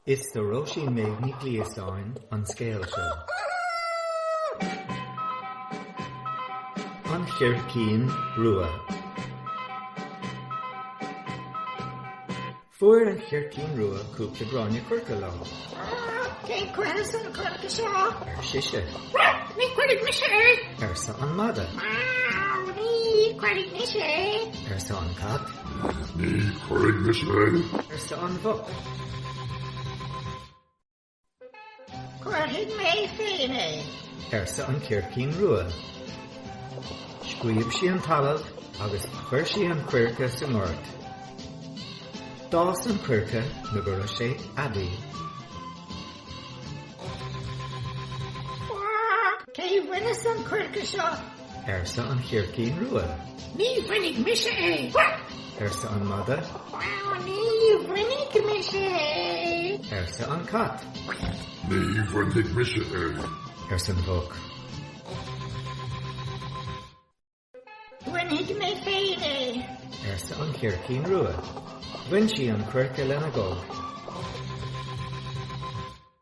Is do Róisín Méabh Ní Ghliostáin an scéal seo. An Chircín Rua. Fuair an Chircín Rua cúpla gráinne coirce lá. Cé chuirfeas an coirce seo? ar sise. Ní chuirfidh mise é! arsa an madadh. Ní chuirfidh mise é! arsa an cat. Ní chuirfidh mise é. arsa an mhuc. Cuirfidh mé féin é. arsa an chircín rua. Scríob sí an talamh agus chuir sí an coirce sa ngort. D'fhás an coirce nó go raibh sé aibí. Cé a bhaineas an coirce seo? arsa an Chircín Rua. Ní bhainfidh mise é! arsa an Madadh. Ní bhainfidh mise é! arsa an Cat. Ní bhainfidh mise é! arsa an Mhuc. Bainfidh mé féin é! arsa an Chircín Rua. Bhain sí an coirce lena gog.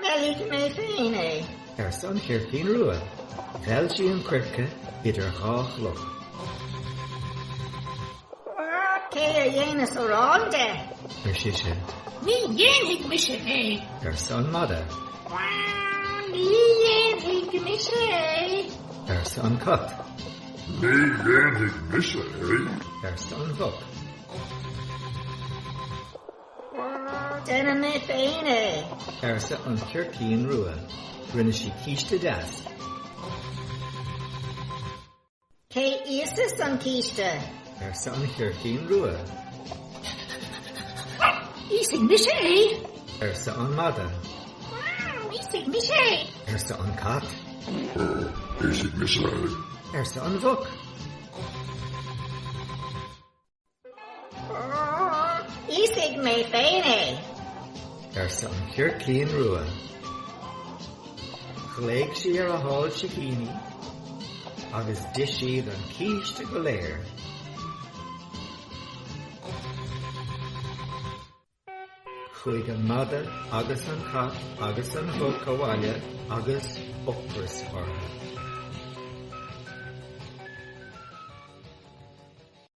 Meilfidh mé féin é, arsa an chircín rua. Mheil sí an coirce idir dhá chloch. Cé a dhéanfas arán de? ar sise. Ní dhéanfaidh mise é, arsa an mada. Ní dhéanfaidh mise é, arsa an cat. Ní dhéanfaidh mise é, arsa an mhuc. Déanfaidh mé féin é! arsa an chircín rua. Rinne sí císte deas. Cé íosfas an císte? arsa an chircín rua. Íosfaidh mise é! arsa an mada. Íosfaidh mise é! arsa an cat. Íosfaidh mise é! arsa an mhuc. Íosfaidh mé féin é! arsa an Chircín Rua. Ghlaoigh sí ar a hál sicíní agus d'ith siad an císte go léir. Chuaigh an madadh agus an cat agus an mhuc abhaile agus ocras orthu.